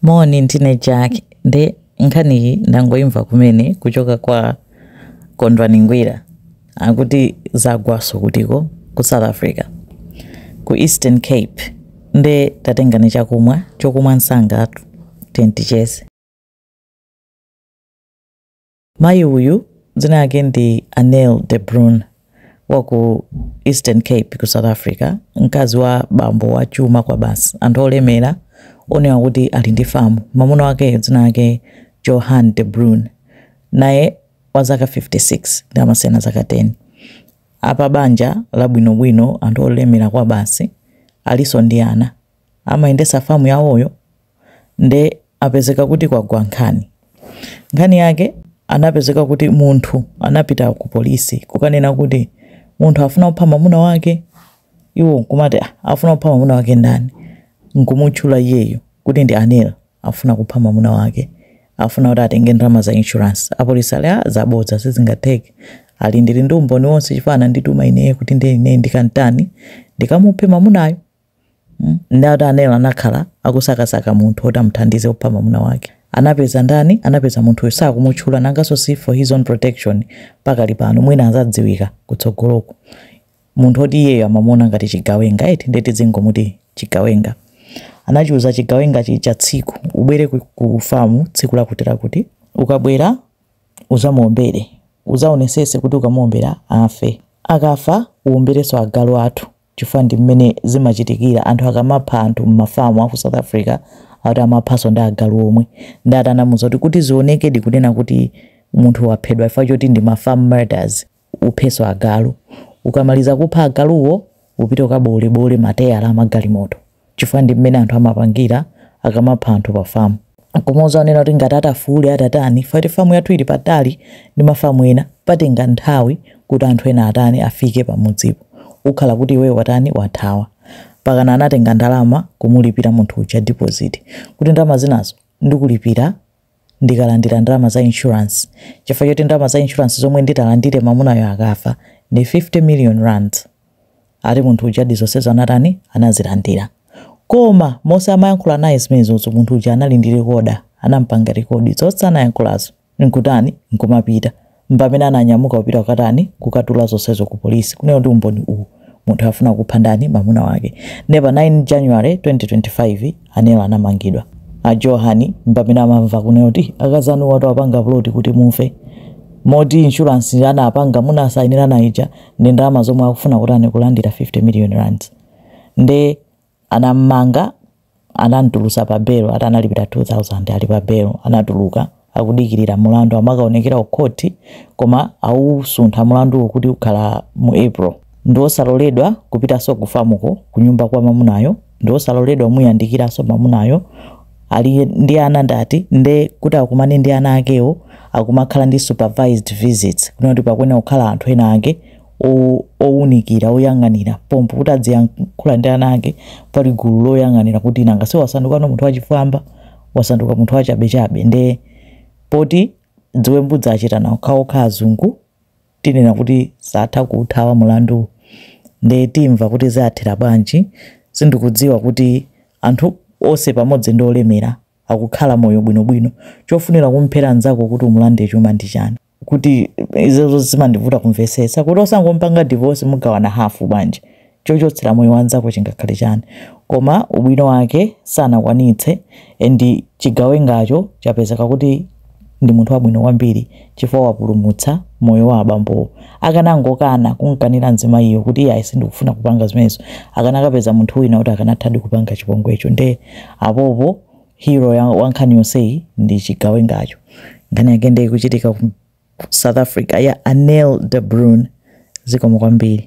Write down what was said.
Moni ndine Jack nde nkhaniyi ndangoimva kumene kuchoka kwa Kondwani Ngwira akuti zagwaso kutiko ku South Africa ku Eastern Cape nde tatengani chakumwa chokumwa msanga tiyeni ticheze. Mayi uyu dzina lake ndi Anel de Bruun wa ku Eastern Cape ku South Africa, mkazi wa bambo wa chuma kwa basi, anthu olemera onena kuti ali ndi famu. Mwamuna wake dzina lake Johan de Bruun, naye wa zaka 56 nde amasiyana zaka 10. Apa banja labwinobwino, anthu olemera kwa basi, alinso ndi ana, amayendesa famu yawoyo nde apezeka kuti kwagwa nkhani. Nkhani yake anapezeka kuti munthu anapita ku polisi kukanena kuti munthu afuna kupha mamuna wake, iwo nkumati ah, afuna kupha mamuna wake ndani, nkumutchula iyeyo kuti ndi Anel afuna kupha mamuna wake afuna kuti atenge ndalama za insurance. Apolisi ali ah, zabodza sizingatheke ali ndili ndi umboni wonse chifukwa anandituma ineyo kuti ndi ine ndikantani ndikamuphe mamunayo Nde ati Anel anakhala akusakasaka munthu oti amuthandize kupha mamuna wake. Anapeza ndani? Anapeza munthuyo sakumutchula nangaso si for his own protection pakali pano mwina azadziwika kutsogoloku. Munthu oti iyeyo amamuona ngati chigawenga eti nde tizingomuti chigawenga. Anachiuza chigawenga chija tsiku ubwere ku famu tsiku lakuti lakuti. Ukabwera uzamuombere. Uzaonesese kuti ukamuombera afe. Akafa uombereso agalu athu. chifukwa ndi mmene zimachitikira anthu akamapha anthu mmafamu aku south africa akuti amaphanso ndi agalu omwe nde ati anamuza kuti kuti zionekedi kunena kuti munthu waphedwa chifukwa choti ndi ma farm murders uphenso agalu ukamaliza kupha agaluwo upite ukabowolebowole mateyala amagalimoto chifukwa ndi mmene anthu amapangira akamapha anthu pa famu koma uzaona kuti ngati atafuule atatani chifukwa kuti famu yathu ili patali ndi mafamu ena patenga nthawi kuti anthu ena atani afike pamudzipo ukhala kuti iweyo watani wathawa mpakana anatenga ndalama kumulipira munthu uja deposit kuti ndalama zinazo ndikulipira ndikalandira ndalama za insurance chifukwa choti ndalama za insurance zomwe nditalandire mamunayo akafa ndi 50 million rands ati munthu uja ndi zonsezo anatani anazilandira koma monse amayankhula naye zimenezozo munthu uja anali ndi rekoda anampanga rekodi zonse anayankhulazo nkutani nkumapita mpamene ananyamuka kupita kukatani kukatula zonsezo ku polisi kunena kuti umboni uwu munthu afuna kupha ndani mamuna wake nde pa 9 january 2025 anel anamangidwa a johan mpamene amamva kunena kuti akazanu awatu apanga ploti kuti mufe moti insurance anapanga munasayinira ija ndi ndalama zomwe akufuna kuti atani kulandira 50 million rands nde Anam'manga, anam'tulutsa pa belo ati analipira 2,000 ali pa belo. Anatuluka akudikirira mulandu amakaonekera ku khoti koma awusuntha mulanduwo kuti ukhala mu April. Ndiwosaloledwa kupitanso ku famuko, kunyumba kwa mamunayo, ndiwosaloledwa kumuyandikiranso mamunayo, ali ndi ana atatu nde kuti akumane ndi ana akewo akumakhala ndi supervised visits kunena kuti pakuyenera kukhala anthu ena ake owunikira oyang'anira pompo kuti adziyankhula ndi ana ake pali gulu loyang'anira kuti nanga si wasanduka munthu wachifwamba wasanduka munthu wachabechabe nde poti dziwembu za achitana okhaokha azungu tinena kuti satha kuuthawa mulandu nde timva kuti zathera bwanji sindikudziwa kuti anthu onse pamodzi ndi olemera akukhala moyo bwinobwino chofunira kumphera nzako kuti umulande chuma ndi chani kuti izozo zimandivuta kumvetsetsa kuti osangopanga divorce mugawana hafu bwanji chochotsera moyo wa nzako chingakhale chani koma ubwino wake sanakwanitse and chigawengacho chapezeka kuti ndi munthu wabwino kwambiri chifukwa wapulumutsa moyo wa abambowo akanangokana kumkanira mzimayiyo kuti iye sindikufuna kupanga zimenezo akanakapeza munthu wina kuti akanathadi kupanga chipongwecho nde apopo Hero wa nkhani yonseyi ndi chigawengacho. Nkhani yake nde ikuchitika ku South Africa ya Anel de Bruin. Zikomo kwambiri.